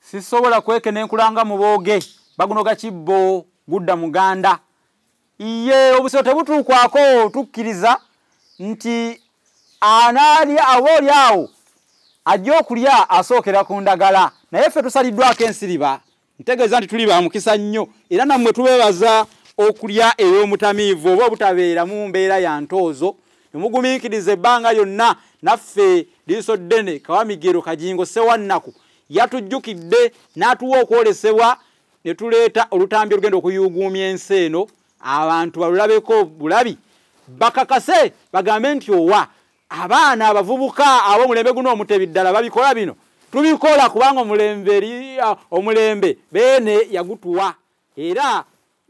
sisobola kwekenenkula nga mubooge bagunoga kibbo gudda muganda iye obusiro tebutuukwako tukkiriza nti anaali aba oli awo ajja okulya asookera ku ndagala naye ffe tusaliddwako ensiriba ntegeeza nti tuli ba mukisa nnyo era nammwe tubeebaza okulya ey'omutamiivu oba obutabeera mu mbeera ya ntoozo nemugumiikiriza ebbanga lyonna naffe liiso ddene kawamigero kajingo sewannaku yatujjukidde n'atuwa okwolesebwa ne tuleeta olutambi olugenda okuyuuguumya ensi eno abantu balulabeko bulabi bakakase bagambe nti owa abaana abavubuka ab'omulembe guno omutebi ddala babikola bino tubikola kubanga omulembe omulembe beene yagutuwa era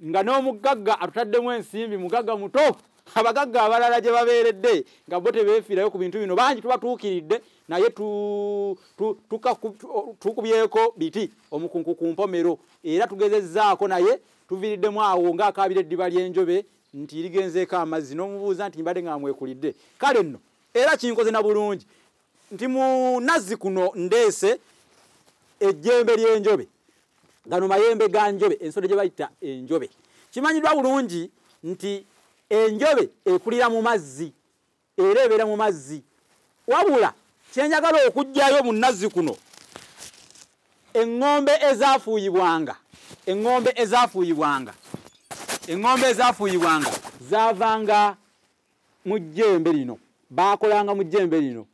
nga n'omuggagga atutaddemu ensimbi mugagga muto abagagga abalala gye babeeredde nga bo tebeefiirayo ku bintu bino bangi tubatuukiridde naye tukubyeko biti omukunku ku mpomero era tugezezzaako naye tuviiriddemu awo ng'akaabira eddiba ly'enjobe nti ligenzeeko amazzi n'omubuuza nti mbadde nga mwekuridde kale nno era kinkoze na bulungi nti mu nazzi kuno ndeese ejjembe ly'enjobe gano mayembe ga njobe ensolo gye bayita enjobe kimanyiddwa bulungi nti enjobe ekulira mu mazzi era ebeera mu mazzi wabula kyenjagala okugjayo mu nazzi kuno eŋŋombe ezafuuyibwanga eŋŋombe ezafuuyibwanga eŋŋombe ezafuuyibwanga zaavanga mu jjembe lino baakolanga mu jjembe lino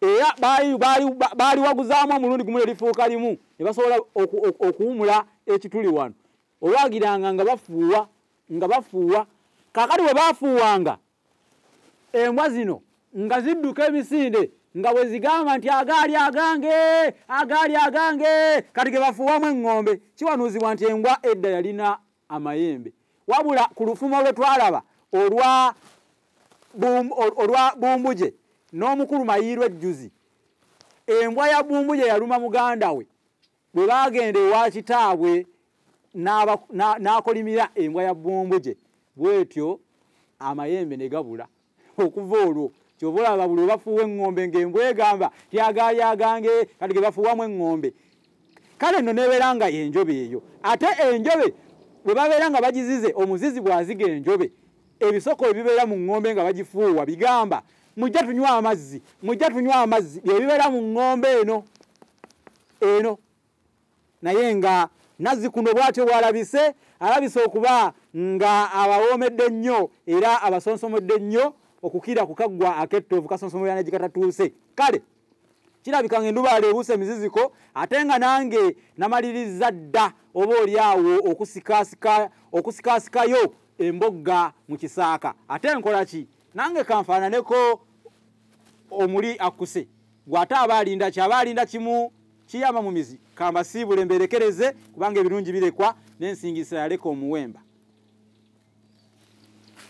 era baaliwaguzaamu omulundi gumu nelifuuka limu ne basobola okuwumula ekituli wano olwagiranga nga bafuuwa nga bafuuwa kakati we bafuuwanga embwa zino nga zidduka emisinde nga bwe zigamba nti agaali agange agaali agange kati ge bafuuwamu eŋŋombe kiwanuuzibwa nti embwa edda yalina amayembe wabula ku lufumo lwe twalaba olwa olwa bumbuje n'omukulu mayiirwa ejjuzi embwa ya bumbuje yaluma muganda we bwe baagenda ewa kitaabwe n'akolimira embwa ya bbombo gye bwetyo amayembe ne gabula okuva olwo kyova olaba buli obafuuwa eŋŋombe ng'embwa egamba tyagaali agange kati ge bafuuwamu eŋŋombe kale nno nebeera nga enjobe eyo ate enjobe bwe babeera nga bagizize omuzizi bw'aziga enjobe ebisoko ebibeera mu ŋŋombe nga bagifuuwa bigamba mujja tunywa amazzi mujja tunywa amazzi bye bibeera mu ŋŋombe eno eno naye nga nazzikuno bwatyo bwalabise alabise okuba nga abawoomedde nnyo era abasonsomodde nnyo okukira ku kaggwa akettoovu kasonsomolera negikatatuuse kale kirabika nga endubaala ebuusa emiziziko ate nga nange namaliriza dda oba oli awo okusikaasikayo embogga mu kisaaka ate nkola ki nange kanfaananeko omuli akkuse gwe ate aba alinda ki aba alinda kimu kiyama mu mizi kambasiibule mberekereze kubanga ebirungi birekwa n'ensingisira yaleka omuwemba